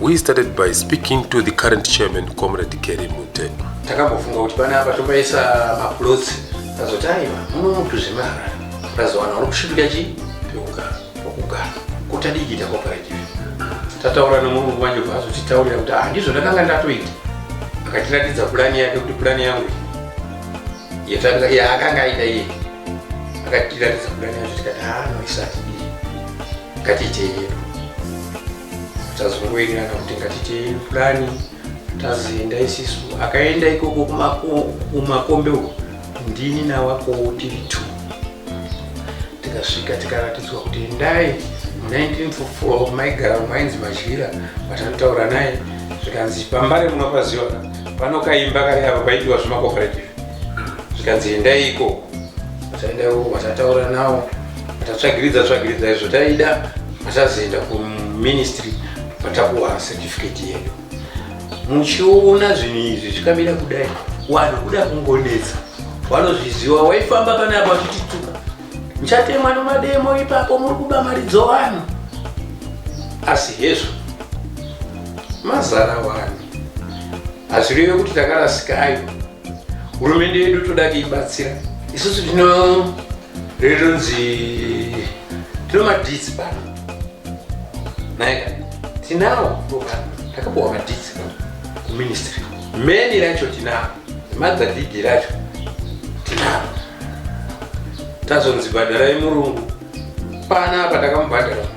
We started by speaking to the current chairman, Comrade Kerry Mute. Takambofunga kuti pana apa topaisa maplots tazoti aiwa muno mutu zvemara tazowana uri kusvipika chi pekugara pokugara kuti adikita cooperative tataura nemurungu wanje bva azotitaurira kuti handizvo ah, ndakanga ndatoita akatiratidza purani yake kuti purani yangu yaakanga aita iye akatiratidza purani yacho tikati ha ah, noisati ii ngatiitei yedu tazongoenderana kuti ngatite purani tazoenda isisu akaenda ikoko kumakombe uko ndini nawakowo tiri two tikasvika tikaratidzwa kuti endai mu1944 maigara mainzi madyira vatanotaura naye zvikanzi pambare munopaziva pano kaimba kari apa paidiwa zvemacooperative zvikanzi endai ikoko taenda ikoko vatataura nawo vatatsvagiridza tsvagiridza izvo taida Tazoenda kuministry patakuwa certificate yedu. Muchiona zvinhu izvi zvikamira kudai, wanhu kuda kungonetsa. Wanozviziwa waifamba pana apa uchitituka. Muchatemwa nomademo ipapo muri kuba mari dzovanhu. Asi hezvo mazara wanhu. Hazvireve kuti takarasika ayo. Hurumende yedu toda kuibatsira. Isusu tino Rinonzi tino madhitsi pano. Naika tinawo takapuwa madhitsi pano kuministry. Meni racho tinawo. Madzadhidhi racho tinawo. Tazonzi bhadharai murungu. Pana apa takamubhadhara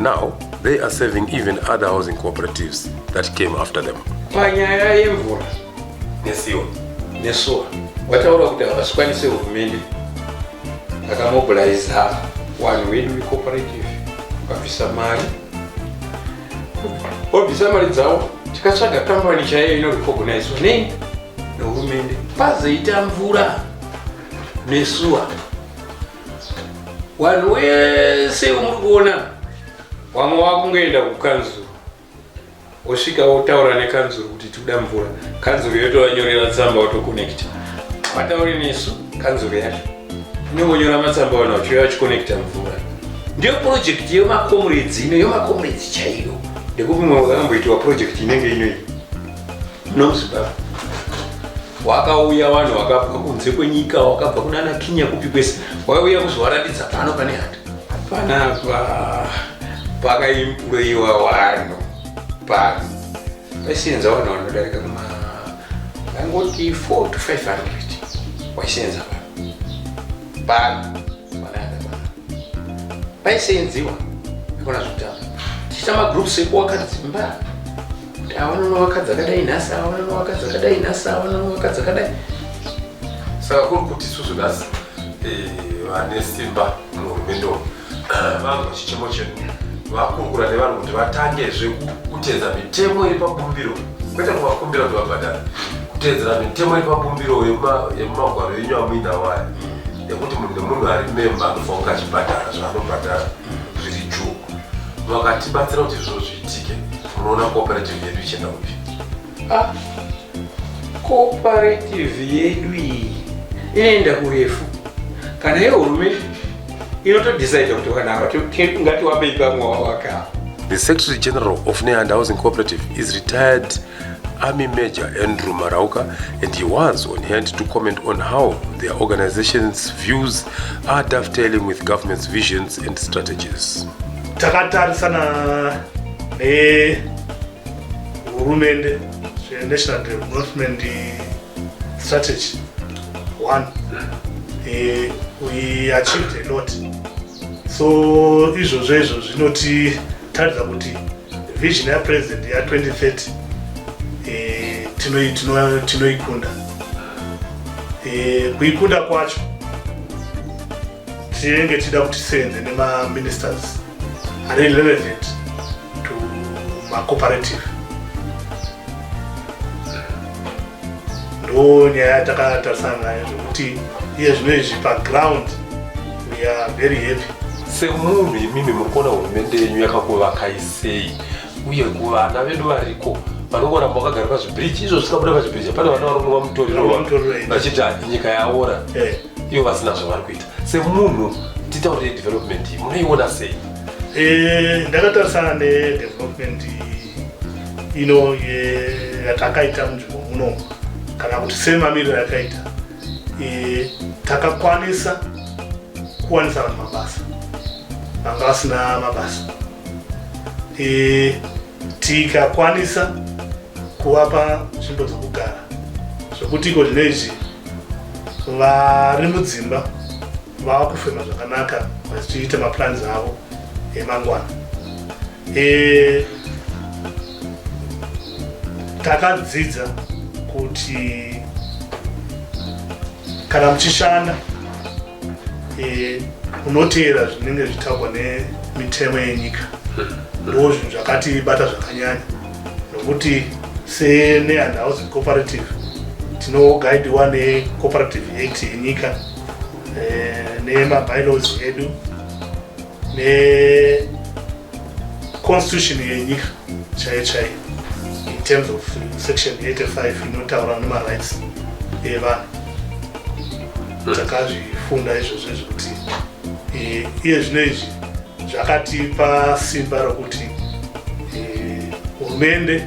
Now they are serving even other housing cooperatives that came after them. Panyaya yemvura nesiwa nesuwa wataura kuti havasikwanise hurumende akamobiliza vanhu vedu vecooperative vakabvisa mari vobvisa mari dzavo tikatsvaga kambani chaiyo inorecognizwa nei nehurumende pazoita mvura nesuwa Wanhu wese umuri kuona wamwe wakungoenda kukanzuru osvika otaura nekanzuru kuti tikuda mvura kanzuru yotovanyorera tsamba otokonekta vatauri nesu kanzuru yacho inongonyora matsamba ona uchiuya vachikonekta mvura ndiyo purojekti yemakomredzi ino yomakomredzi chaiyo ndekuti mumwe wakamboitiwa purojekti inenge inoyi Nozibaba wakauya vanhu vakabva kunze kwenyika wakabva kunana kinya kupi kwese waiuya kuzovaratidza pano pane hata panapa pakaimpuroiwa vanhu pano paisenza vanhu vanodarika kuma angoti 4 to 500 waisenza vanhu pano paisenziwa akona zvekutamba tichita magroups ekuwaka dzimba aonana vakadzi akadai nhasi aonana vakadzi akadai nhasi aonana vakadzi akadai saka kuri kuti isusu nhasi eh, vane simba muhurumende umu vanzwa chichemo chedu vakurukura nevanhu kuti vatangezve kuteedza mitemo iri pabumbiro kwete kuvakumbira kuti vabhadhara kuteedzera mitemo iri pabumbiro yemumagwaro enyu amuinawo aya yekuti munhu nemunhu ari memba anofanira kunge achibhadhara zvaanobhadhara zviri juu vakatibatsira kuti zviro zviitike unoona cooperative yedu ichienda kupi ah, cooperative yedu iyi inoenda kurefu kana yehurumende inotodecide kuti vanava ngatiwapei pamwe wawaka the secretary general of neand housing cooperative is retired Army Major Andrew Marauka, and he was on hand to comment on how their organization's views are dovetailing with government's visions and strategies. takatarisana nehurumende zvenational development strategy one eh, we achieved a lot so izvozvo izvo zvinotiratidza kuti vision ya president ya 2030 eh, tinoikunda eh, kuikunda kwacho tinenge tichida kuti tisevenze nemaministers ari relevant to macooperative ndo nyaya yatakatarisana nayo zvekuti iye zvino izvi paground we are very happy semunhu imimi muri kuona hurumende yenyu yakakuvakai sei uye kuvana vedu variko vanongoramba vakagara pazvibiriji izvo zvikabuda pazvibiriji hapana vana varonova mutoriro vachiti nyika yaora eh. ivo vasina zvavari kuita semunhu titaurire development iyi munoiona sei eh, ndakatarisana nedevelopment iyi ino yatakaita munzvimbo muno kana kuti semamiriro yakaita e, takakwanisa kuwanisa vanhu mabasa vanga vasina mabasa e, tikakwanisa kuvapa nzvimbo dzokugara zvokuti iko zvino izvi vari mudzimba vava kufema zvakanaka vachiita maplans avo emangwana e, takadzidza kuti kana muchishanda e, unoteera zvinenge zvitaurwa nemitemo yenyika ndo zvinhu zvakatibata zvakanyanya nokuti senehandhousing cooperative tinogaidiwa necooperative act yenyika e, nemabylaws edu ne constitution yenyika chaiyo chaiyo in terms of section 85 inotaura nemarights evanhu hmm. takazvifunda izvozvo izvo kuti eh, iye zvino izvi zvakatipa simba rokuti eh, hurumende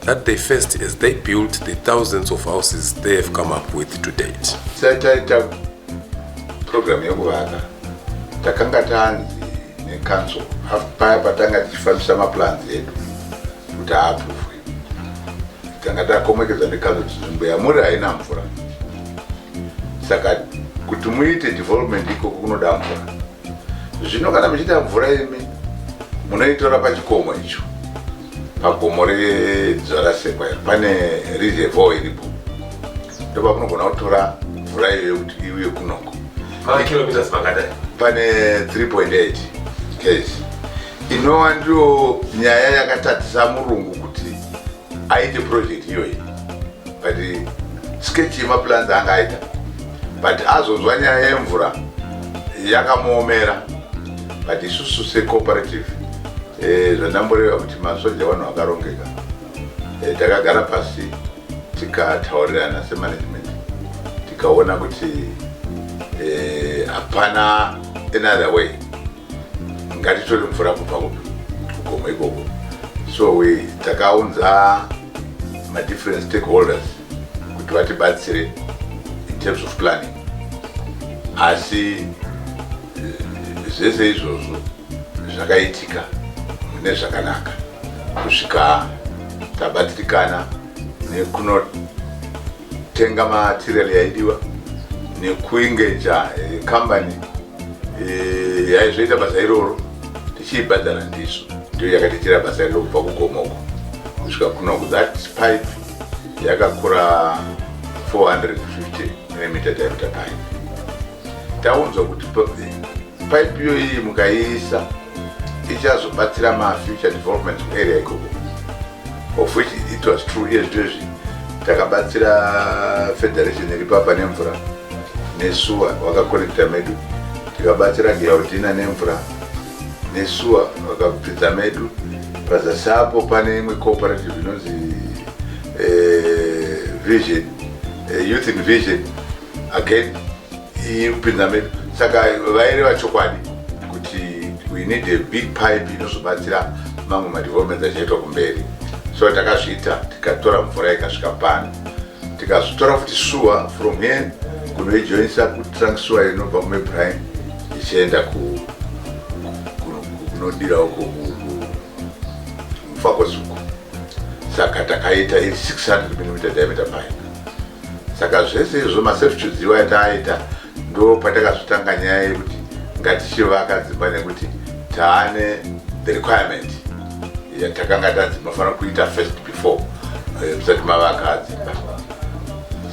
that they first as they built the thousands of houses they have come up with to date sataita program yekuvaka takanga tanzi necouncil paya patanga tichifambisa maplans edu kuti aaprovwe tanga takomekedza necouncil tinzvimbo yamuri haina mvura saka kuti muite development ikoko kunoda mvura zvino kana muchiita mvura imi munoitora pachikomo icho pagomo rezvarasekwa iri pane reservoir iripo ndopamunogona kutora mvura iyoyo kuti iuye kunoko kilometers makadai pane 3.8 ks inova ndiyo nyaya yakatatisa murungu kuti aite project iyoyi but sketch yemaplans anga aita but azonzwa nyaya yemvura yakamuomera but isusu secooperative Eh, zvandamboreva kuti masoja vanhu vakarongeka eh, takagara pasi tikataurirana semanagement tikaona kuti eh, hapana another way ngatitori mvura kubva kugomo ikoko so we takaunza madifferent stakeholders kuti vatibatsire in terms of planning asi zvese izvozvo zvakaitika mune zvakanaka kusvika tabatirikana nekunotenga material yaidiwa nekuingeja eh, kambani eh, yaizoita basa iroro tichiibhadhara ndisu ndiyo yakatiitira basa iroro kubva kugomoko kusvika kunoku that pipe yakakura 450 mm diameter pipe taunzwa kuti Pipe iyo iyi mukaiisa ichazobatsira ma future development area ikoko of which it was true iye zvito izvi takabatsira federation iri papa nemvura nesuwa wakakonekta medu tikabatsira gilaudina nemvura nesuwa wakapfidza medu pazasi apo pane imwe cooperative inonzi eh, vision eh, youth in vision again iyi kupinda medu saka vaireva chokwadi kuti we need a big pipe inozobatsira mamwe madevelopments achaitwa kumberi so takazviita tikatora mvura ikasvika pano tikazotora futi shuwa from here kunoijoinisa kutrunk shuwa inobva kumebrine ichienda kunodira uko mufako zuku saka takaita iri 600 mm diameter pipe saka zvese izvo maserftudes iwa yataaita ndo patakazotanga nyaya yekuti ngatichivaka dzimba nekuti taane the requirement yatakanga tanzi mafanira kuita first before eh, musati mavaka dzimba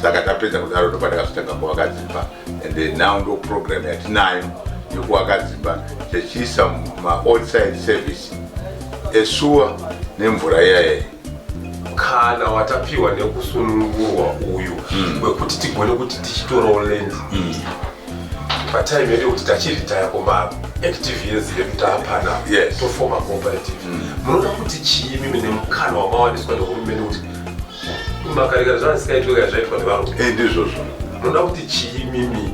saka tapedza kudaro ndo patakazotanga kuvaka dzimba and now ndo program yatinayo yekuvaka dzimba tichiisa maodside service esuwa nemvura iyayeyi kana watapiwa nekusunungurwa uyu mm. wekuti mm. tigone kuti tichitorawo land mm. patime yedu kuti tachiritaya kuma active years yedu taapana yes. tofoma cooperative mm. munoda kuti chii mimi nemukana wamawaniswa nehurumende kuti makarekera zvana zvisingaitwe kana zvaitwa nevarume eh, ndizvozvo munoda kuti chii mimi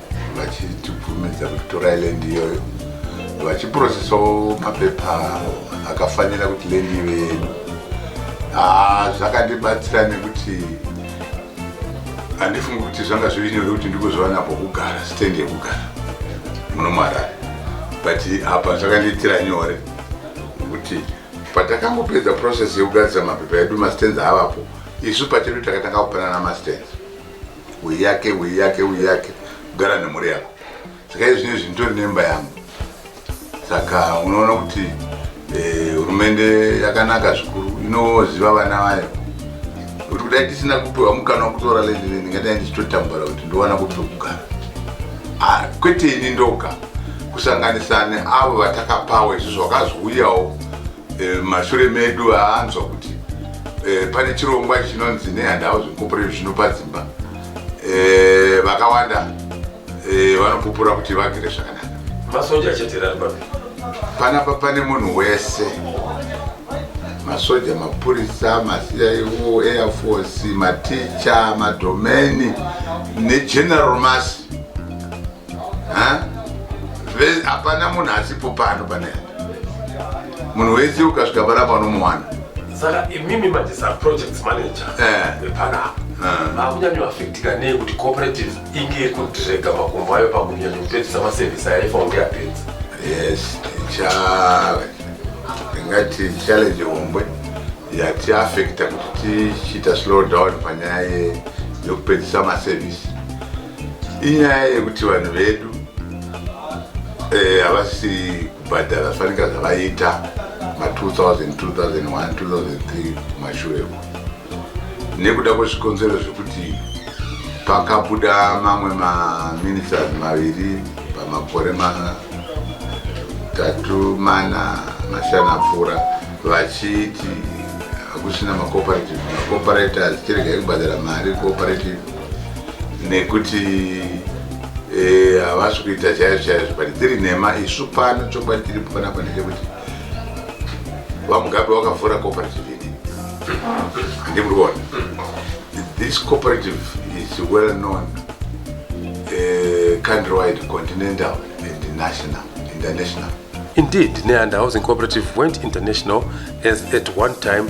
vachitibvumidza kutora land iyoyo vachiprocesawo mapepa akafanira kuti land ive yedu ah, zvakandibatsira nekuti handifungi kuti zvanga zviri nyore kuti ndikuzviwana pokugara stand yekugara muno muharare but apa zvakandiitira nyore nekuti patakangopedza process yekugadzisa mapepa edu mastands avapo isu pachedu takatanga kupanana mastands Wei yake, wei yake, wei yake. Gara nemhuri yako. Saka izvi zvinezvi nditori nemba yangu. Saka unoona kuti eh, hurumende yakanaka zvikuru inoziva vana vayo kuti kudai tisina kupiwa mukana wekutora lady lady ngadai ndichitotambura kuti ndowana kupi kugara Ah, kwete ini ndoga kusanganisa neavo vatakapawo izvo zvakazouyawo Eh, mashure medu aanzwa kuti eh, pane chirongwa chinonzi nehandhouse incorporation zvinopa dzimba eh, vakawanda vanopupura kuti vagere zvakanaka masoja achaterari papi panapa pane munhu wese masoja mapurisa maciu airforce maticha madomeni negeneral mas hapana munhu asipo pano pane munhu wese ukasvika panapa unomuwana saka imimi manje saprojects manager eh. panapa eh. vakunyanyoafektika nei kuti cooperative inge iri kudirega makumbo ayo pakunyanya kupedzisa masevhisi ayaifa kunge yapedza yes tingati challenge hombe yatiafekta kuti tichiita slow down panyaya yekupedzisa masevhisi inyaya yekuti vanhu vedu eh, havasi eh, kubhadhara fanika zvavaiita ma 2000 2001 2003 kumashure uko nekuda kwezvikonzero zvekuti pakabuda mamwe maministers maviri pamakore matatu mana mashana pfuura vachiti hakusina macooperative macooperator zvichiregai kubhadhara mari cooperative nekuti eh, havasi e, kuita chaizvo chaizvo but dziri nhema isu pano chokwadi tiri panapa ndechekuti vamugabe wakavhura cooperative ini handi muri kuona this cooperative is well known uh, eh, country wide continental and national international Indeed, Neanda Housing Cooperative went international as at one time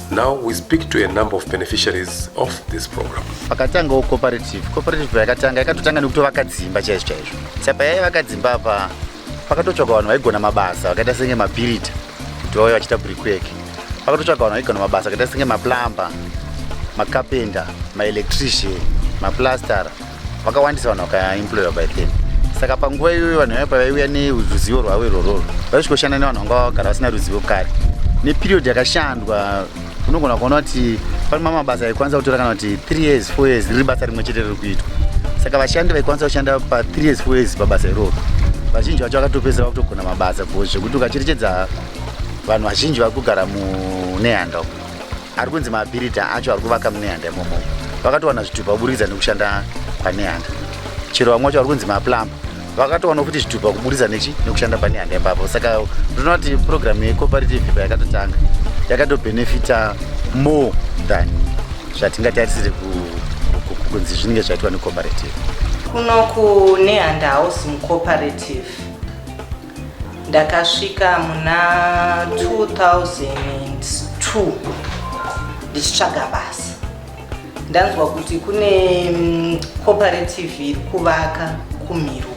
Now we speak to a number of beneficiaries of this program. Pakatangawo cooperative. Cooperative yakatanga yakatotanga nekutovaka dzimba chaizvo chaizvo. Saka payayivaka dzimba apa pakatotsvaka vanhu vaigona mabasa vakaita senge mapirita kuti vauye vachiita brickwork. Pakatotsvaka vanhu vaigona mabasa vakaita senge maplumber, makapenda, maelectrician, maplastara. vakawandisa vanhu vakaemploywa by then saka panguva iyoyo vanhu vaiva pavaiuya neruzivo rwavo irwororo vaisvikoshanda nevanhu vanga vagara vasina ruzivo kare neperiod yakashandwa unogona kuona kuti pane ma mabasa aikwanisa kutora kana kuti three years four years riri basa rimwe chete riri kuitwa saka vashandi vaikwanisa kushanda pa three years four years pabasa iroro vazhinji vacho vakatopesa vakutogona mabasa bcause zvekuti ukacherechedza vanhu vazhinji vari kugara munehanda uko ari kunzi maabirita acho ari kuvaka munehanda imomo vakatowana zvitupa kuburidza nekushanda kwanehanda chero vamwe vacho vari kunzi maplamba vakatowana kuti zvitupa kuburidza nechi nekushanda panehanda ipapo saka ndinoona kuti purogiramu yecooperative payakatotanga yakatobenefita more than zvatingatarisire kunzi zvinenge zvaitwa necooperative kuno kunehanda hausi mucooperative ndakasvika muna 2002 ndichitsvaga basa ndanzwa kuti kune mm, cooperative iri kuvaka kumiruku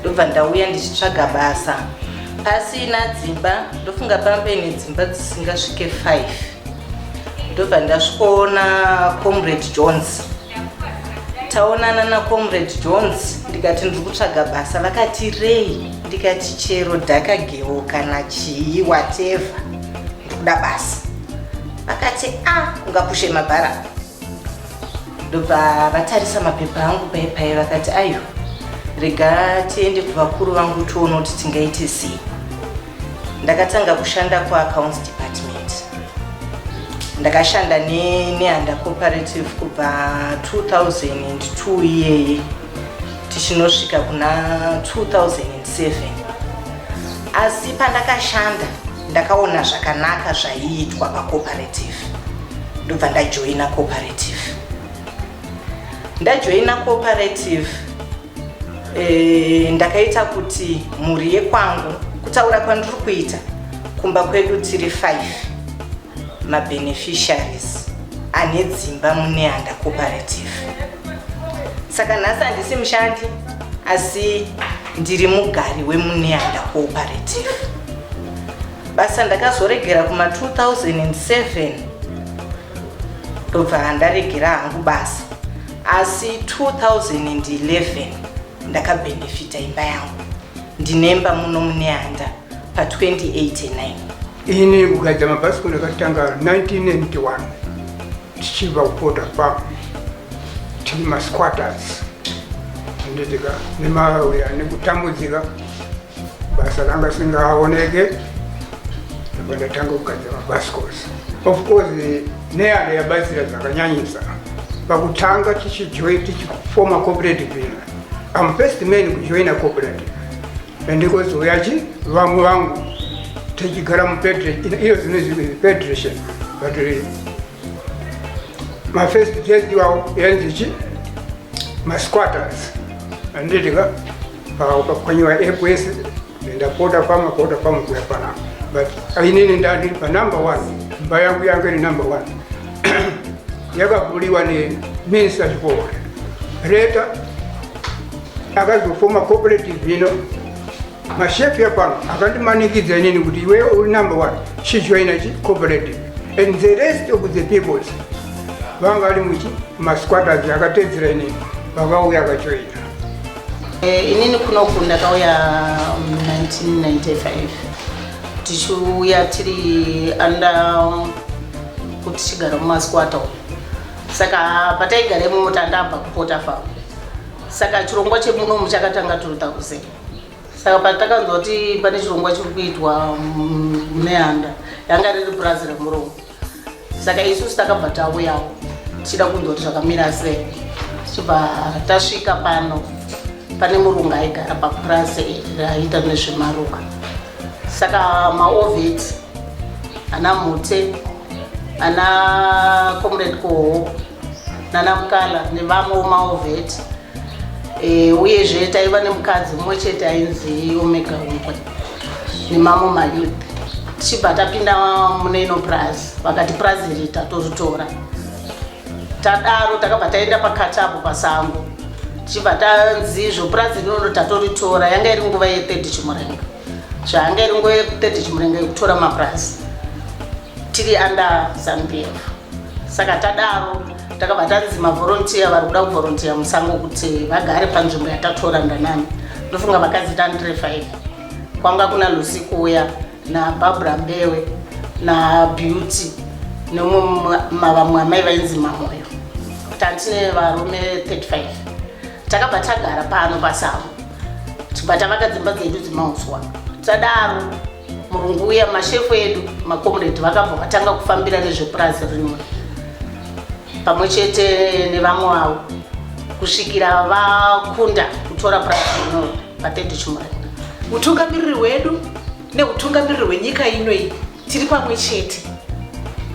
ndobva ndauya ndichitsvaga basa pasina dzimba ndofunga pambe nedzimba dzisingasvike 5 ndobva ndasvikoona comrade jones taonana nacomrade jones ndikati ndiri kutsvaga basa vakati rei ndikati chero dhaka gewo kana chii wateva ndikuda basa vakati a ah, ungapushe mabhara ndobva vatarisa mapepa angu paye paye vakati ayo rega tiende kuvakuru vangu tione kuti tingaite sei ndakatanga kushanda kuaccounts department ndakashanda neanda cooperative kubva 2002 iyeye tichinosvika kuna 2007 asi pandakashanda ndakaona zvakanaka zvaiitwa pacooperative ndobva ndajoina cooperative ndajoina cooperative E, ndakaita kuti mhuri yekwangu kutaura kwandiri kuita kumba kwedu tiri 5 mabeneficiaries ane dzimba muneanda cooperative saka nhasi handisi mushandi asi ndiri mugari wemuneanda cooperative basa ndakazoregera kuma 2007 ndobva handaregera hangu basa asi 2011 ndakabhenefita imba yangu ndinemba muno mune handa pa 2089 ini ukaita mabhasikoro yakatanga 1991 tichibva kupota pa tiri masquatters anditika nemauya nekutambudzika basa ranga singaoneke ndipo ndatanga kugadzira mabhasikos of course neada yabatsira zvakanyanyisa pakutanga tichifoma cooperative ina am first man kujoina cooperative andikozouya chi vamwe vangu tichigara muiyo zinozipedration but eh, mafirst test iwawo yanzichi masquatters anditika Ukakwanyiwa app yese ndapota pamwe pota pamwe kuya panapa but ainini ndandiri pa number one mba yangu yangu iri number one yakabuliwa ne minsa chikora reta akazofoma cooperative ino mashefu yapano akandimanikidza inini kuti iwe uri number one chijoina chi cooperative and the rest of the peoples vanga vari muchi masquatters akatedzera inini vakauya akajoina Eh, inini kunoku ndakauya 1995 um, tichiuya tiri anda um, kuti tichigara mumasquata saka pataigara imomo tandabva kupota fa saka chirongwa chemuno muchakatanga tiri takuze saka patakanzwa kuti pane chirongwa chiri kuitwa um, neanda yanga riri purazi remurongo saka isusu takabva tauyawo tichida kunzwa kuti zvakamira sei tichibva tasvika pano pane murungu aigara papurazi raiita nezvemaruva saka maoveti ana mhute ana comrade koho nana mukala nevamwewo maoveti Eh, uyezve taiva nemukadzi umwe chete ainzi omega umbwe nemamwe mayouth tichibva tapinda mune ino purazi vakati purazi iri tatoritora tadaro takabva taenda pakati apo pasango tichibva tanzi izvo purazi rinono tatoritora yanga iri nguva yethird chimurenga zvayanga iri nguva yethird chimurenga yekutora mapurazi tiri under zambia saka tadaro takabva tanzi mavhorontiya vari kuda kuvhorontiya musango kuti vagare panzvimbo yatatora ndanani ndofunga vakadzi tandire five kwanga kuna lucy kuuya nabarbara mbewe nabeauty nomumwe mavamwe amai vainzi mamoyo tantine varume 35 takabva tagara pano pasango tibva tavaka dzimba dzedu dzemauswa tadaro murungu uya mashefu edu makomredi vakabva vatanga kufambira nezvepurazi rinwe pamwe chete nevamwe vavo kusvikira vakunda kutora purazi rino vatete chumari utungamiriri hwedu neutungamiriri hwenyika ino iyi tiri pamwe chete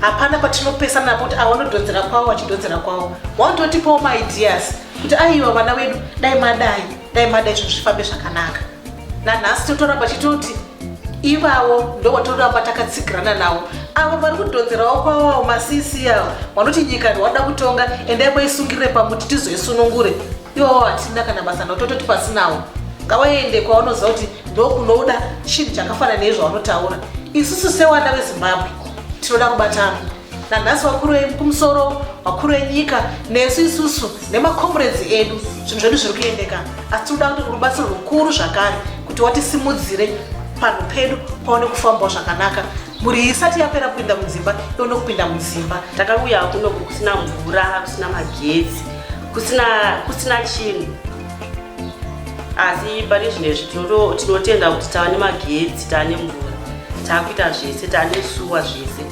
hapana patinopesana napo kuti awanodhodzera kwavo vachidhodzera kwavo wautotipawo maideas kuti aiwa vana vedu dai madai dai mada izvo zvifambe zvakanaka nanhasi totoramba chitoti ivavo ndovatoramba takatsigirana navo avo vari kudhonzerawo kwavawo masisi avo vanoti nyika ndiwada kutonga endai maisungirire pamuti tizoisunungure iwawo hatina kana basa navo tototi pasinawo ngavaende kwavanoziva kuti ndokunoda chinhu chakafanana nezvavanotaura isusu sewanda vezimbabwe tinoda kubatana nanhasi vakuru vekumusoro vakuru venyika nesu isusu nemacomrades edu zvinhu zvedu zviri kuendeka asi tinoda kuti rubatsiro rukuru zvakare kuti watisimudzire panhu pedu paone kufambawo zvakanaka mhuri isati yapera kupinda mudzimba ione kupinda mudzimba takauya kuno kusina mvura kusina magetsi kusina chinhu asi pane zvinhu izvi tinotenda kuti tava nemagetsi tava nemvura taakuita zvese tava nesuwa zvese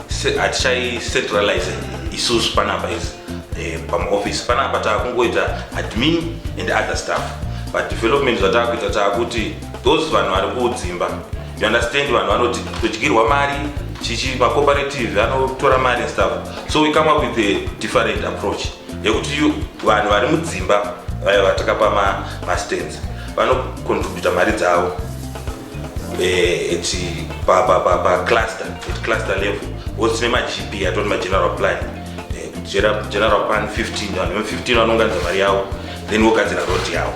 hatichaicentralize isusu panapa izi eh, pamaoffice panapa taakungoita admin and other staff but development zvataakuita taakuti those vanhu vari kudzimba you understand vanhu vanoti todyirwa mari chichi macooperative anotora mari staff so we come up with a different approach yekuti vanhu vari mudzimba vaya vatakapa mastands vanocontributa mari dzavo eh, it's pa pa pa pa cluster at cluster level what's name GP atoti ma general plan eh, general general plan 15 vanhu 15 vanonganza mari yavo then vogadzira road yavo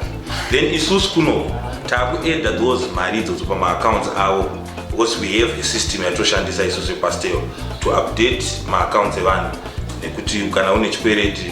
then isusu kuno takuedda those mari idzodzo pamaaccounts avo because we have a system yatoshandisa isusu yepastero to update maaccounts evanhu nekuti kana une chikwereti